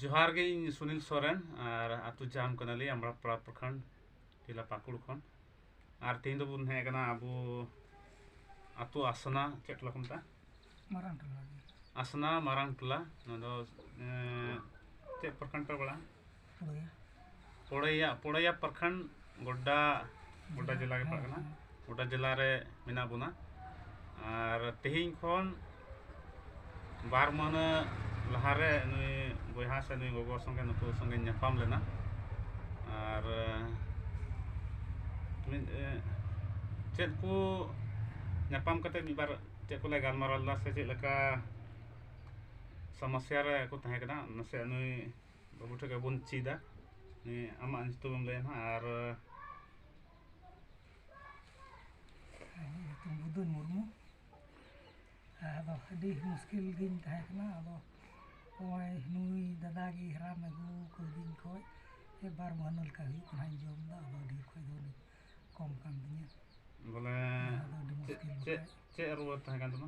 ᱡᱚᱦᱟᱨ ᱜᱮ ᱤᱧ ᱥᱩᱱᱤᱞ ᱥᱚᱨᱮᱱ ᱟᱨ ᱟᱛᱳ ᱡᱟᱢ ᱠᱟᱱᱟᱞᱤᱧ ᱟᱢᱲᱟ ᱯᱟᱲᱟ ᱯᱨᱚᱠᱷᱚᱸᱰ ᱡᱮᱞᱟ ᱯᱟᱹᱠᱩᱲ ᱠᱷᱚᱱ ᱟᱨ ᱛᱮᱦᱮᱧ ᱫᱚᱵᱚᱱ ᱦᱮᱡ ᱟᱠᱟᱱᱟ ᱟᱵᱚ ᱟᱛᱳ ᱟᱥᱱᱟ ᱪᱮᱫ ᱴᱚᱞᱟ ᱠᱚ ᱢᱮᱛᱟᱜᱼᱟ ᱢᱟᱨᱟᱝ ᱴᱚᱞᱟ ᱟᱥᱱᱟ ᱢᱟᱨᱟᱝ ᱴᱚᱞᱟ ᱱᱚᱣᱟ ᱫᱚ ᱪᱮᱫ ᱯᱨᱚᱠᱷᱚᱸᱰ ᱯᱮ ᱯᱟᱲᱟᱜᱼᱟ ᱯᱚᱲᱮᱭᱟ ᱯᱚᱲᱮᱭᱟ ᱯᱨᱚᱠᱷᱚᱸᱰ ᱜᱚᱰᱰᱟ ᱜᱚᱰᱰᱟ ᱡᱮᱞᱟ ᱜᱮ ᱯᱟᱲᱟᱜ ᱠᱟᱱᱟ ᱜᱚᱰᱰᱟ ᱡᱮᱞᱟ ᱨᱮ ᱢᱮᱱᱟᱜ ᱵᱚᱱᱟ ᱟᱨ ᱛᱮᱦᱮᱧ ᱠᱷᱚᱱ ᱵᱟᱨ ᱢᱟᱹᱦᱱᱟᱹ ᱞᱟᱦᱟᱨᱮ ᱱᱩᱭ ᱵᱚᱭᱦᱟ ᱥᱮ ᱱᱩᱭ ᱜᱚᱜᱚ ᱥᱚᱸᱜᱮ ᱱᱩᱠᱩ ᱥᱚᱸᱜᱮ ᱧᱟᱯᱟᱢ ᱞᱮᱱᱟ ᱟᱨ ᱢᱤᱫ ᱪᱮᱫ ᱠᱚ ᱧᱟᱯᱟᱢ ᱠᱟᱛᱮ ᱢᱤᱫ ᱵᱟᱨ ᱪᱮᱫ ᱠᱚᱞᱮ ᱜᱟᱞᱢᱟᱨᱟᱣ ᱞᱮᱫᱟ ᱥᱮ ᱪᱮᱫ ᱞᱮᱠᱟ ᱥᱚᱢᱚᱥᱥᱟ ᱨᱮᱠᱚ ᱛᱟᱦᱮᱸ ᱠᱟᱱᱟ ᱱᱟᱥᱮᱭᱟᱜ ᱱᱩᱭ ᱵᱟᱹᱵᱩ ᱴᱷᱮᱱ ᱠᱷᱚᱱ ᱵᱚᱱ ᱪᱮᱫᱟ ᱟᱢᱟᱜ ᱧᱩᱛᱩᱢᱮᱢ ᱞᱟᱹᱭᱟ ᱱᱟᱦᱟᱜ ᱟᱨ ᱧᱩᱛᱩᱢ ᱵᱩᱫᱷᱩ ᱢᱩᱨᱢᱩ ᱟᱫᱚ ᱟᱹᱰᱤ ᱢᱩᱥᱠᱤᱞ ᱜᱤᱧ ᱛᱟᱦᱮᱸ ᱠᱟᱱᱟ ᱟᱫᱚ ᱱᱚᱜᱼᱚᱭ ᱱᱩᱭ ᱫᱟᱫᱟ ᱜᱮ ᱦᱟᱨᱟᱢ ᱟᱹᱜᱩ ᱠᱟᱹᱫᱤᱧ ᱠᱷᱚᱡ ᱵᱟᱨ ᱢᱟᱹᱦᱱᱟᱹ ᱞᱮᱠᱟ ᱦᱩᱭᱩᱜ ᱠᱟᱱᱟ ᱡᱚᱢ ᱫᱚ ᱟᱫᱚ ᱰᱷᱮᱨ ᱠᱷᱚᱡ ᱫᱚ ᱠᱚᱢ ᱠᱟᱱ ᱛᱤᱧᱟᱹ ᱵᱚᱞᱮ ᱪᱮᱫ ᱪᱮᱫ ᱨᱩᱣᱟᱹ ᱛᱟᱦᱮᱸ ᱠᱟᱱ ᱛᱟᱢᱟ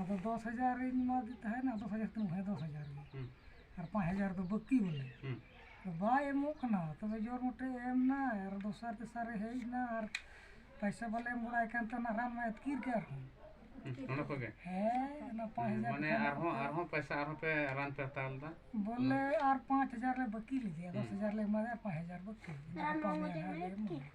ᱟᱫᱚ ᱫᱚᱥ ᱦᱟᱡᱟᱨ ᱤᱧ ᱮᱢᱟᱫᱮ ᱛᱟᱦᱮᱱᱟ ᱫᱚᱥ ᱦᱟᱡᱟᱨ ᱛᱤᱧ ᱮᱢᱟᱭᱟ ᱫᱚᱥ ᱦᱟᱡᱟᱨ ᱜᱮ ᱟᱨ ᱯᱟᱸᱪ ᱦᱟᱡᱟᱨ ᱫᱚ ᱵᱟᱹᱠᱤ ᱵᱚᱞᱮ ᱵᱟᱭ ᱮᱢᱚᱜ ᱠᱟᱱᱟ ᱛᱚᱵᱮ ᱡᱳᱨ ᱢᱚᱴᱮ ᱮᱢ ᱮᱱᱟᱭ ᱟᱨ ᱫᱚᱥᱟᱨ ᱛᱮᱥᱟᱨᱮ ᱦᱮᱡ ᱮᱱᱟ ᱟᱨ ᱯᱚᱭᱥᱟ ᱵᱟᱞᱮ ᱮᱢ ᱜᱚᱲᱟᱭ ᱠᱟᱱ ᱛᱟᱦᱮᱱᱟ ᱨᱟᱱ ᱢᱟᱭ ᱟᱹᱛᱠᱤᱨ ᱠᱮᱫ ᱟᱨᱦᱚᱸ ᱚᱱᱟ ᱠᱚᱜᱮ ᱦᱮᱸ ᱚᱱᱟ ᱯᱟᱸᱪ ᱦᱟᱡᱟᱨ ᱢᱟᱱᱮ ᱟᱨᱦᱚᱸ ᱟᱨᱦᱚᱸ ᱯᱚᱭᱥᱟ ᱟᱨᱦᱚᱸ ᱯᱮ ᱨᱟᱱ ᱯᱮ ᱦᱟᱛᱟᱣ ᱞᱮᱫᱟ ᱵᱚᱞᱮ ᱟᱨ ᱯᱟᱸᱪ ᱦᱟᱡᱟᱨ ᱞᱮ ᱵᱟᱹᱠᱤ ᱞᱮᱫᱮᱭᱟ ᱫᱚᱥ ᱦᱟᱡᱟᱨ ᱞᱮ ᱮᱢᱟᱫᱮᱭᱟ ᱯᱟᱸᱪ ᱦᱟᱡᱟᱨ ᱵᱟᱹᱠᱤ ᱨᱟᱱ ᱢᱟ ᱢᱚᱴᱮ ᱮᱢ ᱟᱹᱛᱠᱤᱨ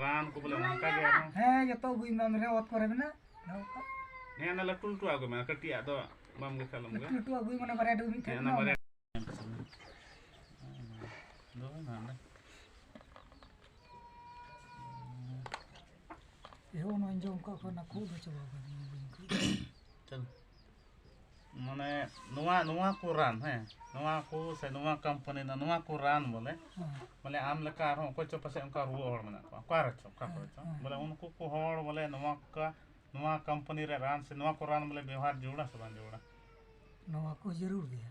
ᱨᱟᱱ ᱠᱚ ᱵᱚᱞᱮ ᱚᱱᱠᱟ ᱜᱮ ᱟᱨᱦᱚᱸ ᱦᱮᱸ ᱡᱚᱛᱚ ᱟᱹᱜᱩᱭ ᱢᱮ ᱢᱮᱨᱮ ᱚᱛ ᱠᱚᱨᱮ ᱢᱮᱱᱟᱜ ᱦᱮᱸ ᱚᱱᱟ ᱞᱟᱹᱴᱩ ᱞᱟᱹᱴᱩ ᱟᱹᱜᱩᱭ ᱢᱮ ᱠᱟᱹᱴᱤᱡᱟᱜ ᱫᱚ ᱵᱟᱢ ᱜᱮ ᱠᱷᱟᱞᱚᱢ ᱜᱮ ᱞᱟᱹᱴᱩ ᱟᱹᱜᱩᱭ ᱢᱟᱱᱮ ᱵᱟᱨᱭᱟ ᱰᱩᱵᱤ ᱴᱷᱮᱱ ᱚᱱᱟ ᱵᱟᱨᱭᱟ ᱮᱦᱚᱵ ᱱᱚᱣᱟᱧ ᱡᱚᱢ ᱠᱟᱜ ᱠᱚᱣᱟ ᱚᱱᱟ ᱠᱷᱩᱜ ᱫᱚ ᱪᱟᱵᱟ ᱠᱟᱱᱟ ᱢᱟᱱᱮ ᱱᱚᱣᱟ ᱱᱚᱣᱟ ᱠᱚ ᱨᱟᱱ ᱦᱮᱸ ᱱᱚᱣᱟ ᱠᱚ ᱥᱮ ᱱᱚᱣᱟ ᱠᱳᱢᱯᱟᱱᱤ ᱨᱮᱱᱟᱜ ᱱᱚᱣᱟ ᱠᱚ ᱨᱟᱱ ᱵᱚᱞᱮ ᱵᱚᱞᱮ ᱟᱢ ᱞᱮᱠᱟ ᱟᱨᱦᱚᱸ ᱚᱠᱚᱭ ᱪᱚ ᱯᱟᱥᱮᱡ ᱚᱱᱠᱟ ᱨᱩᱣᱟᱹ ᱦᱚᱲ ᱢᱮᱱᱟᱜ ᱠᱚᱣᱟ ᱚᱠᱟ ᱨᱮᱪᱚ ᱚᱠᱟ ᱠᱚᱨᱮ ᱪᱚ ᱵᱚᱞᱮ ᱩᱱᱠᱩ ᱠᱚ ᱦᱚᱲ ᱵᱚᱞᱮ ᱱᱚᱣᱟ ᱠᱚ ᱱᱚᱣᱟ ᱠᱳᱢᱯᱟᱱᱤ ᱨᱮ ᱨᱟᱱ ᱥᱮ ᱱᱚᱣᱟ ᱠᱚ ᱨᱟᱱ ᱵᱚᱞᱮ ᱵᱮᱣᱦᱟᱨ ᱡᱟᱹᱨᱩᱲᱟ ᱥᱮ ᱵᱟᱝ ᱡᱟᱹᱨᱩᱲᱟ ᱱᱚᱣᱟ ᱠᱚ ᱡᱟᱹᱨᱩᱲ ᱜᱮᱭᱟ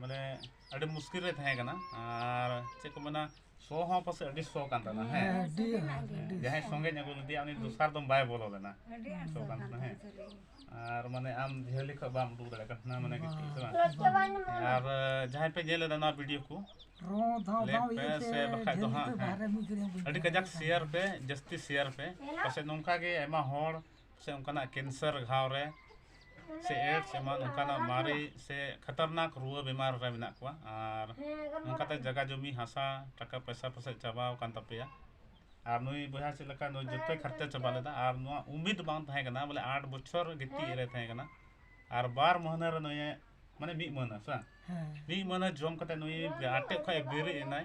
ᱢᱟᱱᱮ ᱟᱹᱰᱤ ᱢᱩᱥᱠᱤᱞ ᱨᱮ ᱛᱟᱦᱮᱸ ᱠᱟᱱᱟ ᱟᱨ ᱪᱮᱫ ᱠᱚ ᱢᱮᱱᱟ ᱥᱚ ᱦᱚᱸ ᱯᱟᱥᱮᱡ ᱟᱹᱰᱤ ᱥᱚ ᱠᱟᱱ ᱛᱟᱦᱮᱱᱟ ᱦᱮᱸ ᱡᱟᱦᱟᱸᱭ ᱥᱚᱸᱜᱮᱧ ᱟᱹᱜᱩ ᱞᱮᱫᱮᱭᱟ ᱩᱱᱤ ᱫᱚᱥᱟᱨ ᱫᱚᱢ ᱵᱟᱭ ᱵᱚᱞᱚ ᱞᱮᱱᱟ ᱥᱚ ᱠᱟᱱ ᱛᱟᱦᱮᱱᱟ ᱦᱮᱸ ᱟᱨ ᱢᱟᱱᱮ ᱟᱢ ᱡᱷᱟᱹᱞᱤ ᱠᱷᱚᱡ ᱵᱟᱢ ᱩᱰᱩᱠ ᱫᱟᱲᱮᱭᱟᱜ ᱠᱟᱱ ᱛᱟᱦᱮᱱᱟ ᱢᱟᱱᱮ ᱠᱤᱪᱷᱩ ᱥᱮ ᱵᱟᱝ ᱟᱨ ᱡᱟᱦᱟᱸᱭ ᱯᱮ ᱧᱮᱞ ᱞᱮᱫᱟ ᱱᱚᱣᱟ ᱵᱷᱤᱰᱤᱭᱳ ᱠᱚ ᱞᱮᱠ ᱯᱮ ᱥᱮ ᱵᱟᱠᱷᱟᱡ ᱫᱚ ᱦᱟᱸᱜ ᱟᱹᱰᱤ ᱠᱟᱡᱟᱠ ᱥᱮᱭᱟᱨ ᱯᱮ ᱡᱟᱹᱥᱛᱤ ᱥᱮᱭᱟᱨ ᱯᱮ ᱯᱟᱥᱮᱡ ᱱᱚᱝᱠᱟ ᱜᱮ ᱟᱭᱢᱟ ᱦᱚᱲ ᱥᱮ ᱚᱱᱠᱟᱱᱟᱜ ᱠᱮᱱᱥᱟᱨ ᱜᱷᱟᱣ ᱨᱮ ᱥᱮ ᱮᱰᱥ ᱮᱢᱟᱱ ᱚᱱᱠᱟᱱᱟᱜ ᱢᱟᱨᱮ ᱥᱮ ᱠᱷᱟᱛᱟᱨᱱᱟᱠ ᱨᱩᱣᱟᱹ ᱵᱮᱢᱟᱨ ᱨᱮ ᱢᱮᱱᱟᱜ ᱠᱚᱣᱟ ᱟᱨ ᱚᱱᱠᱟᱛᱮ ᱡᱟᱭᱜᱟ ᱡᱚᱢᱤ ᱦᱟᱥᱟ ᱴᱟᱠᱟ ᱯᱚᱭᱥᱟ ᱯᱟᱥᱮᱡ ᱪᱟᱵᱟ ᱟᱠᱟᱱ ᱛᱟᱯᱮᱭᱟ ᱟᱨ ᱱᱩᱭ ᱵᱚᱭᱦᱟ ᱪᱮᱫ ᱞᱮᱠᱟ ᱱᱩᱭ ᱡᱚᱛᱚᱭ ᱠᱷᱚᱨᱪᱟ ᱪᱟᱵᱟ ᱞᱮᱫᱟ ᱟᱨ ᱱᱚᱣᱟ ᱩᱢᱤᱫ ᱵᱟᱝ ᱛᱟᱦᱮᱸ ᱠᱟᱱᱟ ᱵᱚᱞᱮ ᱟᱴ ᱵᱚᱪᱷᱚᱨ ᱜᱤᱛᱤᱡ ᱨᱮ ᱛᱟᱦᱮᱸ ᱠᱟᱱᱟ ᱟᱨ ᱵᱟᱨ ᱢᱟᱹᱦᱱᱟᱹ ᱨᱮ ᱱᱩᱭᱮ ᱢᱟᱱᱮ ᱢᱤᱫ ᱢᱟᱹᱦᱱᱟᱹ ᱥᱮ ᱵᱟᱝ ᱢᱤᱫ ᱢᱟᱹᱦᱱᱟᱹ ᱡᱚᱢ ᱠᱟᱛᱮ ᱱᱩᱭ ᱟᱴᱮᱫ ᱠᱷᱚᱡ ᱵᱮᱨᱮᱫ ᱮᱱᱟᱭ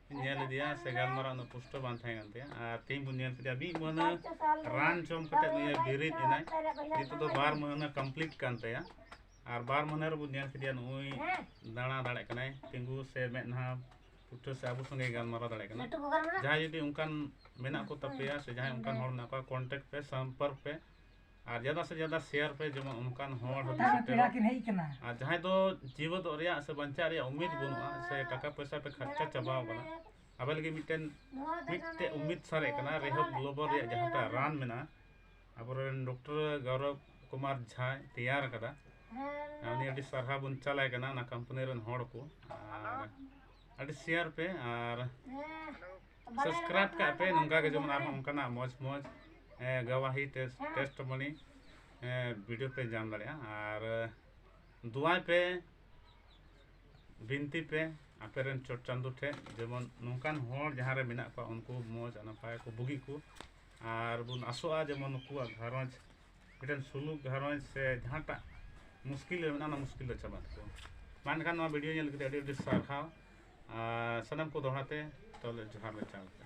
ᱧᱮᱞ ᱤᱫᱤᱭᱟ ᱥᱮ ᱜᱟᱞᱢᱟᱨᱟᱣ ᱩᱱᱟᱹᱜ ᱯᱩᱥᱴᱟᱹ ᱵᱟᱝ ᱛᱟᱦᱮᱸ ᱠᱟᱱ ᱛᱟᱭᱟ ᱟᱨ ᱛᱮᱦᱮᱧ ᱵᱚᱱ ᱧᱮᱞ ᱠᱮᱫᱟ ᱢᱤᱫ ᱢᱟᱹᱦᱱᱟᱹ ᱨᱟᱱ ᱡᱚᱢ ᱠᱟᱛᱮ ᱱᱩᱭᱮ ᱵᱮᱨᱮᱫ ᱮᱱᱟᱭ ᱱᱤᱛᱚᱜ ᱫᱚ ᱵᱟᱨ ᱢᱟᱹᱦᱱᱟᱹ ᱠᱚᱢᱯᱞᱤᱴ ᱠᱟᱱ ᱛᱟᱭᱟ ᱟᱨ ᱵᱟᱨ ᱢᱟᱹᱦᱱᱟᱹ ᱨᱮᱵᱚᱱ ᱧᱮᱞ ᱠᱮᱫᱮᱭᱟ ᱱᱩᱭ ᱫᱟᱬᱟ ᱫᱟᱲᱮᱭᱟᱜ ᱠᱟᱱᱟᱭ ᱛᱤᱸᱜᱩ ᱥᱮ ᱢᱮᱫᱦᱟ ᱯᱩᱴᱷᱟᱹ ᱥᱮ ᱟᱵᱚ ᱥᱚᱸᱜᱮ ᱜᱟᱞᱢᱟᱨᱟᱣ ᱫᱟᱲᱮᱭᱟᱜ ᱠᱟᱱᱟ ᱡᱟᱦᱟᱸᱭ ᱡᱩᱫᱤ ᱚᱱᱠᱟᱱ ᱢᱮᱱᱟᱜ ᱠᱚ ᱛᱟᱯᱮᱭᱟ ᱥᱮ ᱡᱟᱦᱟᱸᱭ ᱚᱱᱠᱟᱱ ᱦᱚᱲ ᱢᱮᱱᱟᱜ ᱠᱚᱣᱟ ᱠᱚᱱᱴᱮᱠᱴ ᱯᱮ ᱥᱚᱢᱯᱚᱨᱠ ᱯᱮ ᱟᱨ ᱡᱟᱫᱟ ᱥᱮ ᱡᱟᱫᱟ ᱥᱮᱭᱟᱨ ᱯᱮ ᱡᱮᱢᱚᱱ ᱚᱱᱠᱟᱱ ᱦᱚᱲ ᱦᱚᱸ ᱟᱨ ᱡᱟᱦᱟᱸᱭ ᱫᱚ ᱡᱤᱣᱮᱫᱚᱜ ᱨᱮᱭᱟᱜ ᱥᱮ ᱵᱟᱧᱪᱟᱜ ᱨᱮᱭᱟᱜ ᱩᱢᱤᱫ ᱵᱟᱹᱱᱩᱜᱼᱟ ᱥᱮ ᱴᱟᱠᱟ ᱯᱚᱭᱥᱟ ᱯᱮ ᱠᱷᱟᱨᱪᱟ ᱪᱟᱵᱟᱣ ᱠᱟᱱᱟ ᱟᱵᱮ ᱞᱟᱹᱜᱤᱫ ᱢᱤᱫᱴᱮᱱ ᱢᱤᱫᱴᱮᱱ ᱩᱢᱤᱫ ᱥᱟᱨᱮᱡ ᱠᱟᱱᱟ ᱨᱮᱦᱚᱵ ᱜᱞᱳᱵᱟᱞ ᱨᱮᱭᱟᱜ ᱡᱟᱦᱟᱸᱴᱟᱜ ᱨᱟᱱ ᱢᱮᱱᱟᱜᱼᱟ ᱟᱵᱚᱨᱮᱱ ᱰᱚᱠᱴᱚᱨ ᱜᱚᱨᱚᱵ ᱠᱩᱢᱟᱨ ᱡᱷᱟ ᱛᱮᱭᱟᱨ ᱟᱠᱟᱫᱟ ᱩᱱᱤ ᱟᱹᱰᱤ ᱥᱟᱨᱦᱟᱣ ᱵᱚᱱ ᱪᱟᱞᱟᱭ ᱠᱟᱱᱟ ᱚᱱᱟ ᱠᱳᱢᱯᱟᱱᱤ ᱨᱮᱱ ᱦᱚᱲ ᱠᱚ ᱟᱨ ᱟᱹᱰᱤ ᱥᱮᱭᱟᱨ ᱯᱮ ᱟᱨ ᱥᱟᱵᱥᱠᱨᱟᱭᱤᱵ ᱠᱟᱜ ᱯᱮ ᱱᱚᱝᱠᱟ ᱜᱮ ᱡᱮᱢᱚᱱ ᱟᱨᱦᱚᱸ ᱚᱱᱠᱟᱱᱟᱜ ᱢᱚᱡᱽ ᱢᱚᱡᱽ ᱜᱟᱣᱟᱦᱤ ᱴᱮᱥᱴ ᱴᱮᱥᱴ ᱢᱚᱱᱤ ᱵᱷᱤᱰᱤᱭᱳ ᱯᱮ ᱧᱟᱢ ᱫᱟᱲᱮᱭᱟᱜᱼᱟ ᱟᱨ ᱫᱩᱣᱟᱭ ᱯᱮ ᱵᱤᱱᱛᱤ ᱯᱮ ᱟᱯᱮ ᱨᱮᱱ ᱪᱚᱴ ᱪᱟᱸᱫᱳ ᱴᱷᱮᱱ ᱡᱮᱢᱚᱱ ᱱᱚᱝᱠᱟᱱ ᱦᱚᱲ ᱡᱟᱦᱟᱸ ᱨᱮ ᱢᱮᱱᱟᱜ ᱠᱚᱣᱟ ᱩᱱᱠᱩ ᱢᱚᱡᱽ ᱱᱟᱯᱟᱭ ᱠᱚ ᱵᱩᱜᱤ ᱠᱚ ᱟᱨ ᱵᱚᱱ ᱟᱥᱚᱜᱼᱟ ᱡᱮᱢᱚᱱ ᱱᱩᱠᱩᱣᱟᱜ ᱜᱷᱟᱨᱚᱸᱡᱽ ᱢᱤᱫᱴᱮᱱ ᱥᱩᱞᱩᱠ ᱜᱷᱟᱨᱚᱸᱡᱽ ᱥᱮ ᱡᱟᱦᱟᱸᱴᱟᱜ ᱢᱩᱥᱠᱤᱞ ᱨᱮ ᱢᱮᱱᱟᱜᱼᱟ ᱚᱱᱟ ᱢᱩᱥᱠᱤᱞ ᱫᱚ ᱪᱟᱵᱟᱜ ᱛᱟᱠᱚᱣᱟ ᱢᱟ ᱮᱱᱠᱷᱟᱱ ᱱᱚᱣᱟ ᱵᱷᱤᱰᱤᱭᱳ ᱧᱮᱞ ᱠᱟᱛᱮ ᱟᱹᱰᱤ ᱟᱹᱰᱤ ᱥᱟᱨᱦᱟᱣ ᱟᱨ ᱥᱟᱱᱟᱢ ᱠᱚ ᱫᱚᱦᱲᱟ ᱛᱮ ᱛᱟᱦᱚᱞᱮ ᱡᱚᱦᱟᱨ ᱞᱮ ᱪᱟᱞ ᱮᱫᱟ